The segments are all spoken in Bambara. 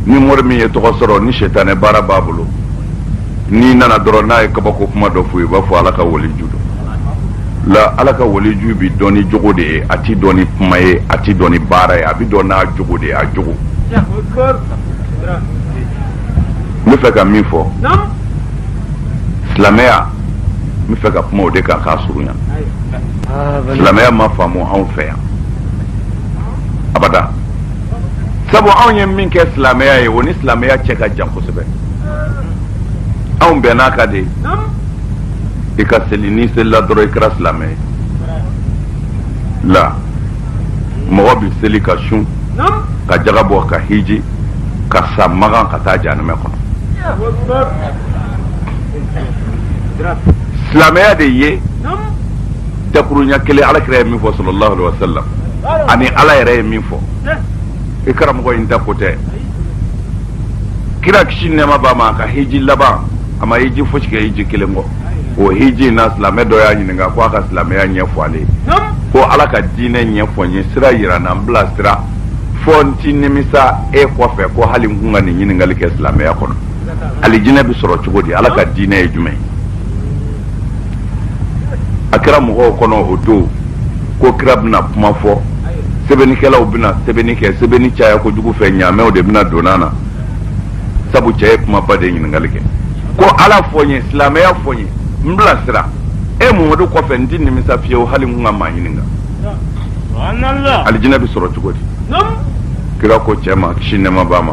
ni mori min ye tɔgɔ sɔrɔ ni sɛtanɛ baara b'a bolo n'i nana dɔrɔn n'a ye kabako kuma dɔ f'u ye u b'a fɔ ala ka waliju don la ala ka waliju bi dɔn ni jogo de ye a ti dɔn ni kuma ye a ti dɔn ni baara ye a bi dɔn n'a jogo de ye a jogo n bɛ fɛ ka min fɔ silamɛya n bɛ fɛ ka kuma o de kan k'a surunya silamɛya ma faamu anw fɛ yan abada sabu anw ye min kɛ silamɛya ye o ni silamɛya cɛ ka jan kosɛbɛ anw bɛnn'a kan de i ka seli n'i selila dɔrɔn i kɛra silamɛ ye la mɔgɔ bɛ seli ka sun ka jaga bɔ ka hiji ka sa makan ka taa janɛmɛ kɔnɔ silamɛya de ye dakurunya kelen ala kira ye min fɔ sallallahu alaihi wasallam ani ala yɛrɛ ye min fɔ i karamɔgɔ in ta ko tɛ kira kisi nɛɛma b'a ma a ka hiji laban a ma hiji fosi kɛ hiji kelen kɔ o hiji in na silamɛ dɔ y'a ɲininka ko a ka silamɛya ɲɛfɔ ale ye ko ala ka diinɛ ɲɛfɔ n ye sira yira n na n bila sira fɔ n ti nimisa e kɔfɛ ko hali n kun ka nin ɲininkali kɛ silamɛya kɔnɔ alijinɛ bɛ sɔrɔ cogo di ala ka diinɛ ye jumɛn ye a kɛra mɔgɔw kɔnɔ o don ko kira bɛna kuma fɔ sɛbɛnnikɛlaw bɛna sɛbɛnni kɛ sɛbɛnni caya kojugu fɛ ɲaamɛw de bɛna don a na sabu cɛ ye kumaba de ɲininkali kɛ ko ala fɔ n ye silamɛya fɔ n ye n bila sira e mamadu kɔfɛ n ti nimisa fiyewu hali n kun ka maa ɲininka alijinɛ bɛ sɔrɔ cogo di kira ko cɛ ma kisi nɛɛma b'a ma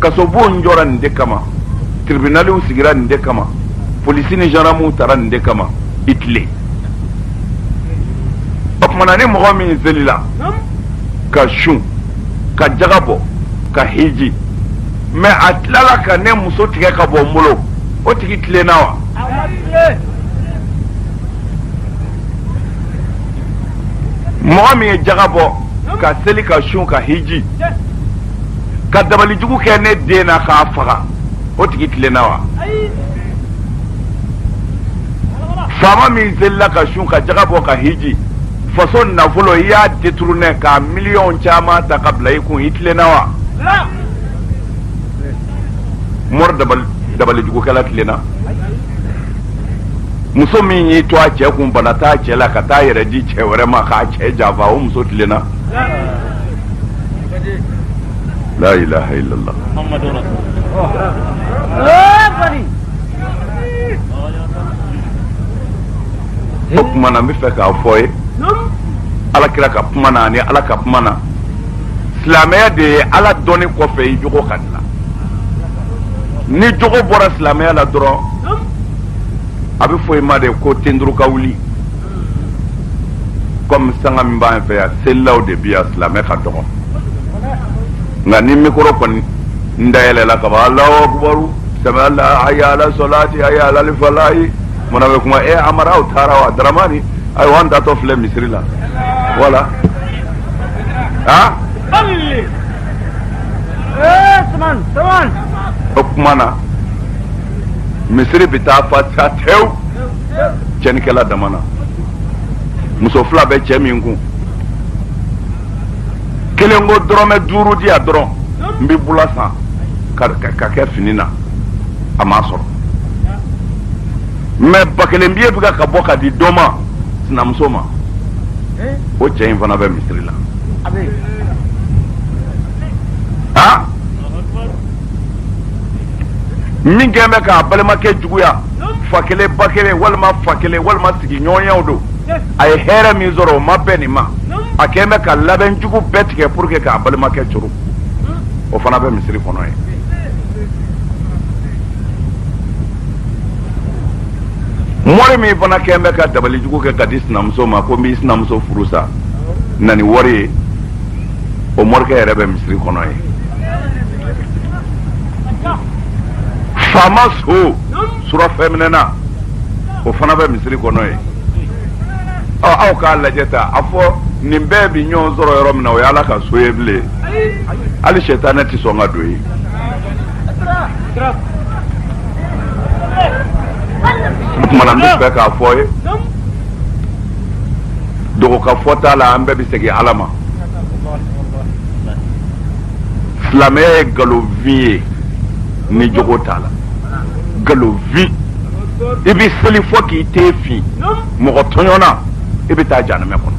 kasobon jɔra nin de kama tribunaliw sigira nin de kama polisi ni gendarmew tara nin de kama i tilen o tuma na ni mɔgɔ min selila ka sun ka jaga bɔ ka hiji mais a tilala ka ne muso tigɛ ka bɔ n bolo o tigi tilenna wa mɔgɔ min ye jaga bɔ ka seli ka sun ka hiji ka dabalijugu kɛ ne den na k'a faga o tigi tilenna wa faama min selila ka sun ka jaga bɔ ka hiji faso nafolo i y'a détourné k'a miliyɔn caman ta ka bila i kun i tilenna wa mori dabalijugukɛla tilenna muso min y'i to a cɛ kun bana t'a cɛ la ka t'a yɛrɛ di cɛ wɛrɛ ma k'a cɛ janfa o muso tilenna la ilaha illallah o kuma na n bɛ fɛ k'a fɔ ye ala kira ka kuma na ani ala ka kuma na silamɛya de ye ala dɔnni kɔfɛ i jogo ka dilan ni jogo bɔra silamɛya la dɔrɔn a bɛ fɔ i ma de ko ten turu ka wuli kɔmi sanga min b'an fɛ yan selilaw de bi yan silamɛ ka dɔgɔ nka ni mikɔrɔ kɔni dayɛlɛla ka ban alahu akubaru sami ala hayya ala solati hayya alal falahi mana bɛ kuma e amara aw taara wa daramani ayiwa an taatɔ filɛ misiri la wala a o kuma na misiri bɛ taa fa sa tewu cɛnnikɛla dama na muso fila bɛ cɛ min kun kelen ko dɔrɔmɛ duuru di yan dɔrɔn n bɛ bula san k'a kɛ fini na a m'a sɔrɔ mais ba kelen biye bɛ ka bɔ ka di dɔ ma sinamuso ma o cɛ in fana bɛ misiri la min kɛlen bɛ k'a balimakɛ juguya fa kelen ba kelen walima fa kelen walima sigiɲɔgɔnyaw don a ye hɛrɛ min sɔrɔ o ma bɛn nin ma a kɛlen bɛ ka labɛn jugu bɛɛ tigɛ pour que k'a balimakɛ coron o fana bɛ misiri kɔnɔ yen mɔri min fana kɛlen bɛ ka dabali jugu kɛ ka di sinamuso ma ko n b'i sinamuso furu sa na ni wari ye o morikɛ yɛrɛ bɛ misiri kɔnɔ yen faama so surafɛnminɛna o fana bɛ misiri kɔnɔ yen ɔ aw k'a lajɛ ta a fɔ nin bɛɛ bi ɲɔgɔn sɔrɔ yɔrɔ min na o ye ala ka so ye bilen hali sɛtanɛ tɛ sɔn ka don yen kuma na n bɛ fɛ k'a fɔ ye dogo ka fɔ t'a la an bɛɛ bɛ segin ala ma silamɛya ye nkalonfin ye ni jogo t'a la nkalonfin i bɛ seli fo k'i ten fin mɔgɔtɔɲɔnna i bɛ taa janamɛ kɔnɔ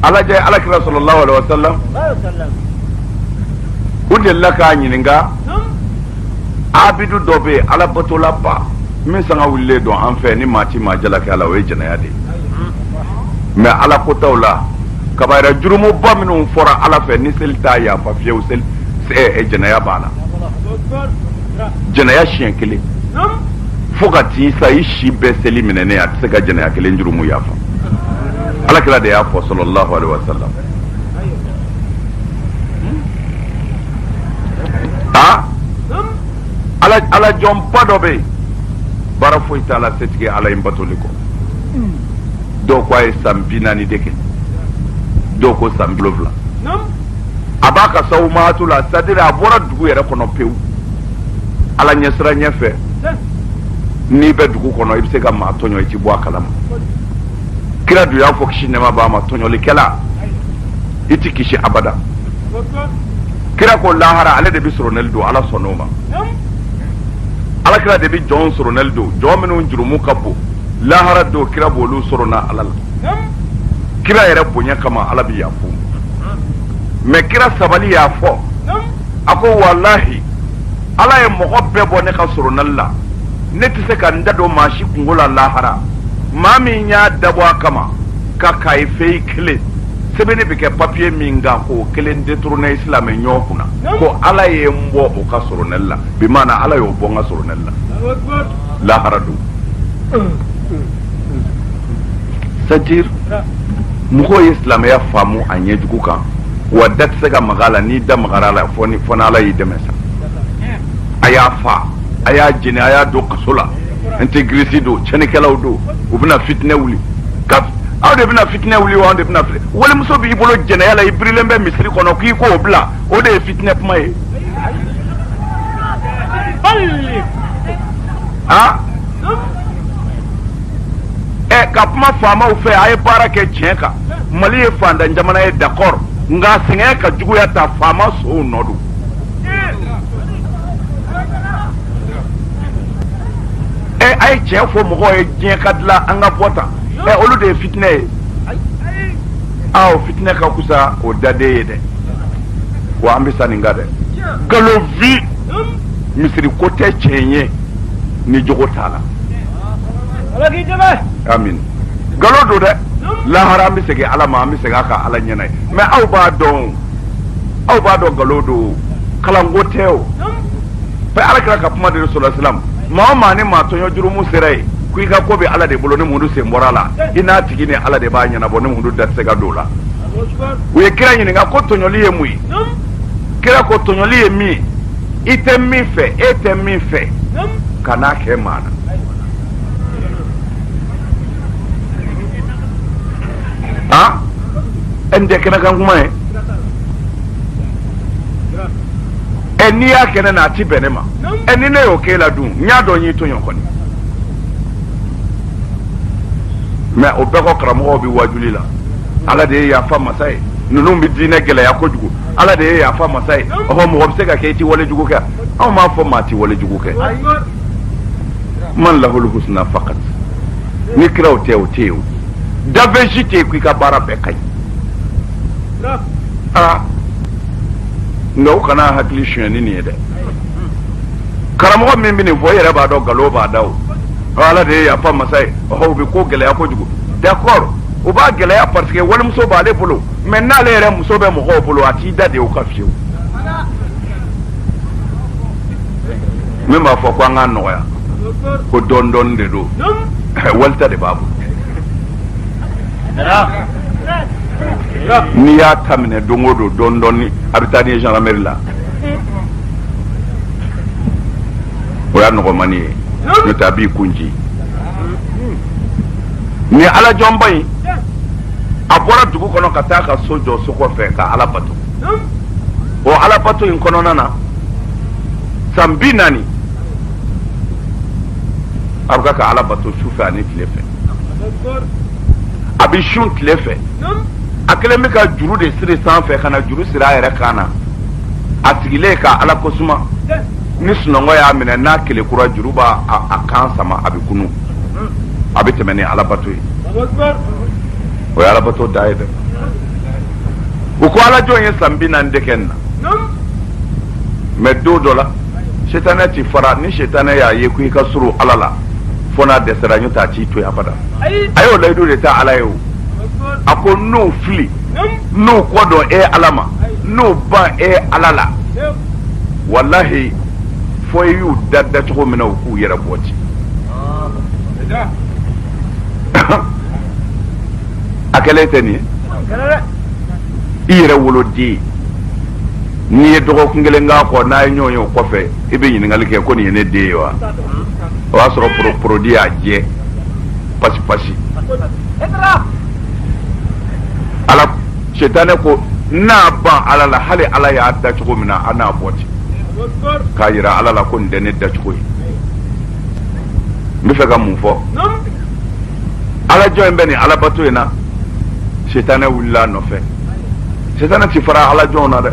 a lajɛ ala kira sallallahu alaihi wa sallam u delila k'a ɲininka abidu dɔ bɛ yen alabatola ba min sanga wulilen don an fɛ ni maa ti maa jalaki a la o ye jɛnɛya de ye mais ala kotaw la kabayira jurumuba minnu fɔra ala fɛ ni seli t'a yafa fiyewu seli eh, eh, jɛnɛya b'a la jɛnɛya siɲɛ kelen fo ka t'i sa i si bɛɛ seli minɛnen a tɛ se ka jɛnɛya kelen jurumu yafa ala kira de y'a fɔ sallallahu alaihi wa sallam ala jɔnba dɔ bɛ yen baara foyi t'a la setigi ala in batoli kɔ dɔw ko a ye san bi naani de kɛ dɔw ko san wolonwula a b'a ka sawumaatu la c'est-à-dire a bɔra dugu yɛrɛ kɔnɔ pewu ala ɲɛsiranɲɛ fɛ n'i bɛ dugu kɔnɔ i bɛ se ka maa tɔɲɔ i ti bɔ a kalama kira dun y'a fɔ kisi nɛma b'a ma tɔɲɔlikɛla i ti kisi abada kira ko lahara ale de bɛ soronɛli don ala sɔnna o ma ala kira de bɛ jɔn soronɛli don jɔn minnu jurumu ka bon lahara don kira b'olu sorona ala la kira yɛrɛ bonya kama ala bɛ yaf'u ma mais kira sabali y'a fɔ a ko walahi ala ye mɔgɔ bɛɛ bɔ ne ka soronɛli la ne tɛ se ka n da don maa si kunko la lahara maa min y'a dabɔ a kama ka kaye feuille kelen sɛbɛnni bɛ kɛ papiye min kan k'o kelen détourné silamɛ ɲɔgɔn kunna ko ala ye n bɔ o ka solonɛli la bi maana ala y'o bɔ n ka solonɛli la lahara don c'est-à-dire mɔgɔw ye silamɛya faamu a ɲɛjugu kan wa da tɛ se ka maga a la n'i da magara a la fɔ n'ala y'i dɛmɛ sa a y'a faa a y'a jeni a y'a don kaso la intégriste don cɛnnikɛlaw don u bɛna fitinɛ wuli aw de bɛna fitinɛ wuli wa aw de bɛna walimuso b'i bolo jɛnɛya la i birilen bɛ misiri kɔnɔ k'i k'o bila o de ye fitinɛ kuma ye a ɛ ka kuma faamaw fɛ a ye baara kɛ tiɲɛ kan mali ye fantan jamana ye d'accord nka sɛgɛn ka juguya tan faama sonw nɔ don ɛ a ye tiɲɛ fɔ mɔgɔw ye diɲɛ ka dilan an ka bɔ tan ɛ olu de ye fitinɛ ye aa o fitinɛ ka kusa o dade ye dɛ wa an bɛ sa nin kan dɛ nkalonfin misiri ko tɛ tiɲɛ ye ni jogo t'a la ala k'i dɛmɛ amin nkalon don dɛ lahara an bɛ segin ala ma an bɛ segin a ka ala ɲɛna ye mais aw b'a dɔn aw b'a dɔn nkalon don kalanko tɛ o ala kira ka kuma de sallallahu alaihi wasallam maa o maa ni maa tɔɲɔ jurumu sera ye ko i ka ko bɛ ala de bolo ne muhamadu sen bɔr'a la i n'a tigi ni ala de b'a ɲɛnabɔ ne muhamadu da tɛ se ka don o la u ye kira ɲininka ko tɔɲɔli ye mun ye kira ko tɔɲɔli ye min ye i tɛ min fɛ e tɛ min fɛ kan'a kɛ maa na ah e nin tɛ kɛnɛ kan kuma ye e n'i y'a kɛ ne na a ti bɛn ne ma e ni ne y'o k'e la dun n y'a dɔn n y'i tɔɲɔ kɔni mais o bɛɛ kɔ karamɔgɔw bi wajuli la ala de ye yafa masa ye ninnu bi diinɛ gɛlɛya kojugu ala de ye yafa masa ye ɔhɔ mɔgɔ bɛ se ka kɛ i ti wale jugu kɛ anw m'a fɔ maa ti wale jugu kɛ man lahul husna fakat ni kiraw tɛ o tɛ yen dafɛn si tɛ yen ko i ka baara bɛɛ ka ɲi aa nka u kana hakili sonyɛni nin ye dɛ karamɔgɔ min bɛ nin fɔ i yɛrɛ b'a dɔn nkalon b'a da o ala de ye yafa masa ye ɔhɔ u bɛ ko gɛlɛya kojugu d'accord u b'a gɛlɛya parce que walimuso b'ale bolo mais n'ale yɛrɛ muso bɛ mɔgɔw bolo a t'i da de o kan fiyewu min b'a fɔ ko an k'a nɔgɔya ko dɔɔni dɔɔni de don wali ta de b'a bolo n'i y'a ta minɛ don o don dɔɔni dɔɔni a bɛ taa n'i ye gendarmerie la o y'a nɔgɔmani ye n'o tɛ a b'i kunci nin alajɔnba in a bɔra dugu kɔnɔ ka taa a ka so jɔ so kɔfɛ ka ala bato o alabato in kɔnɔna na san bi naani a bɛ ka ala bato su fɛ ani tile fɛ a bɛ sun tile fɛ a kɛlen bɛ ka juru de siri sanfɛ ka na juru siri a yɛrɛ kan na a sigilen ka ala ko suma ni sunɔgɔ y'a minɛ n'a kelekura juru b'a a kan sama a bɛ kunun a bɛ tɛmɛ ni alabato ye o ye alabato dan ye dɛ u ko alajɔn ye san bi naani de kɛ nin na mais don dɔ la setanɛ ti fara ni setanɛ y'a ye ko i ka surun ala la fo n'a dɛsɛra n'o t'a t'i to yen abada a y'o layidu de ta ala ye o a ko n'u fili n'u kɔ don e ala ma n'u ban e ala la walahi fo i y'u da da cogo min na u k'u yɛrɛ bɔ ci a kɛlen tɛ nin ye i yɛrɛ woloden n'i ye dɔgɔkun kelen k'a kɔ n'a ye ɲɔgɔn ye o kɔfɛ i bɛ ɲininkali kɛ ko nin ye ne den ye wa o y'a sɔrɔ porodi y'a jɛ pasi pasi ala setanɛ ko n'a ban ala la hali ala y'a da cogo min na a n'a bɔ ten k'a yira ala la ko nin tɛ ne dacogo ye n bɛ fɛ ka mun fɔ alajɔn in bɛ nin alabato in na sitanɛ wulila a nɔfɛ sitanɛ ti fara alajɔnw na dɛ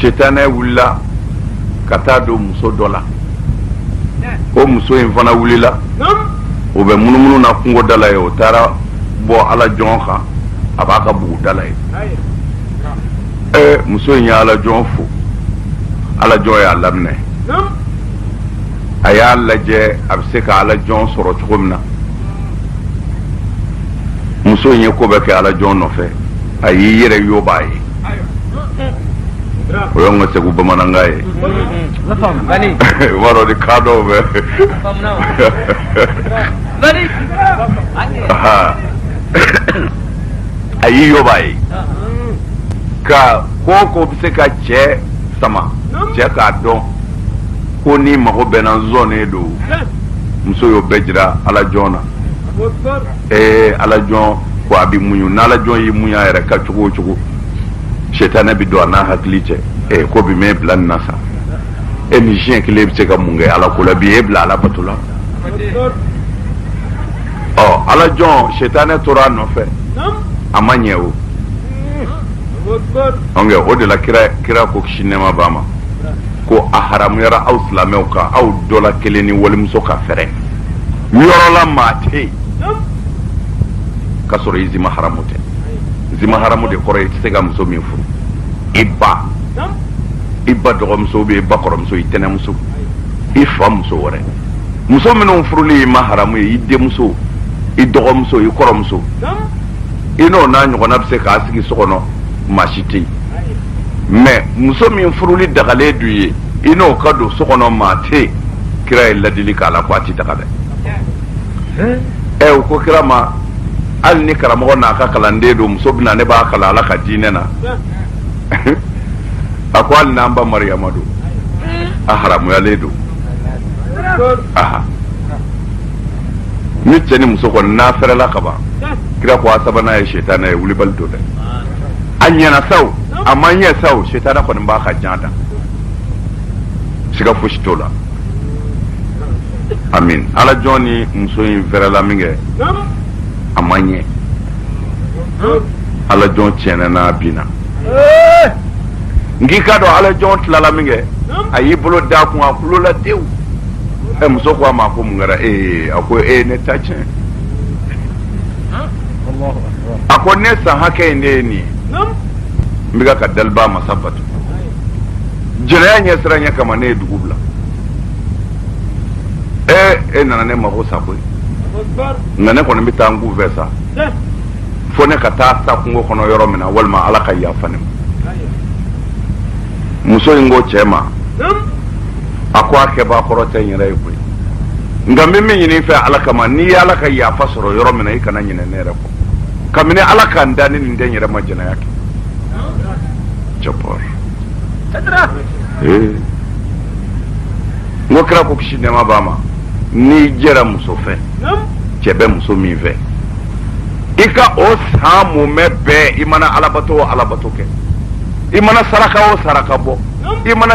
sitanɛ wulila ka taa don muso dɔ la o muso in fana wulila o bɛ munumunu na kungo da la ye o taara bɔ alajɔn kan a b'a ka bugu da la ye ɛɛ muso in ye alajɔn fo alajɔn y'a laminɛ a y'a lajɛ a bɛ se ka ala jɔn sɔrɔ cogo min na muso in ye ko bɛɛ kɛ ala jɔn nɔfɛ a y'i yɛrɛ yobaa ye o y'an ka segu bamanankan ye b'a dɔn ni kan dɔw bɛ a y'i yobaa ye ka ko o ko bɛ se ka cɛ sama cɛ k'a dɔn ko n'i mago bɛ n na n sɔnnen don muso y'o bɛɛ jira alajɔn na ee alajɔn ko a b'i muɲu n'alajɔn y'i muɲu a yɛrɛ ka cogo o cogo setanɛ bɛ don a n'a hakili cɛ ee ko bi m'e bila nin na sa e ni siɲɛ kelen bɛ se ka mun kɛ ala ko la bi e bila ala bato la ɔ alajɔn setanɛ tora a nɔfɛ a ma ɲɛ o ɔ o de la kira kira ko si nɛɛma b'a ma ko a haramuyara aw silamɛw kan aw dɔ la kelen ni walimuso ka fɛrɛ yɔrɔ la maa tɛ yen k'a sɔrɔ i zi maharamu tɛ zi maharamu de kɔrɔ ye i tɛ se ka muso min furu i ba i ba dɔgɔmuso bɛ i ba kɔrɔmuso i tɛnɛmuso i fa muso wɛrɛ muso minnu furuli y'i ma haramu ye i denmuso i dɔgɔmuso i kɔrɔmuso i n'o n'a ɲɔgɔnna bɛ se ka sigi so kɔnɔ maa si tɛ yen mɛ muso min furuli dagalen don i ye i n'o ka don so kɔnɔ maa tɛ kira ye ladili k'a la ko a ti daga dɛ ɛ u ko kira ma hali ni karamɔgɔ n'a ka kalanden don muso bɛ na ne b'a kalan ala ka diinɛ na a ko hali n'an ba mariyama don a haramuyalen don aha ni cɛ ni muso kɔni n'a fɛrɛla ka ban kira ko a sabanan ye sitanɛ ye wulibali don dɛ a ɲɛna sa wo a ma ɲɛ sa wo setanɛ kɔni b'a ka jan da siga fosi t'o la amin ala jɔn ni muso in fɛrɛla min kɛ a ma ɲɛ ala jɔn tiɲɛna n'a binna n k'i k'a dɔn ala jɔn tilala min kɛ a y'i bolo d'a kun a kulola tewu ɛ muso ko a ma ko mun kɛra ee a ko ee ne ta tiɲɛ a ko ne san hakɛ in de ye nin ye n bɛ ka daliba masa batu jɛnɛya ɲɛsiranɲɛ kama ne ye dugu bila ee e nana ne mako sa koyi nka ne kɔni bɛ taa n kun fɛ sa fo ne ka taa sa kungo kɔnɔ yɔrɔ min na walima ala ka yafa ne ma muso in ko cɛ ma a ko a kɛbaa kɔrɔ tɛ n yɛrɛ ye koyi nka n bɛ min ɲini i fɛ ala kama n'i ye ala ka yafa sɔrɔ yɔrɔ min na i kana ɲinɛ ne yɛrɛ kɔ kabini ala ka n da ni nin tɛ n yɛrɛ ma jɛnɛya kɛ jabɔr ee n ko kira ko kisi nɛɛma b'a ma n'i jɛra muso fɛ cɛ bɛ muso min fɛ i ka o san mumɛ bɛɛ i mana alabato o alabato kɛ i mana saraka o saraka bɔ i mana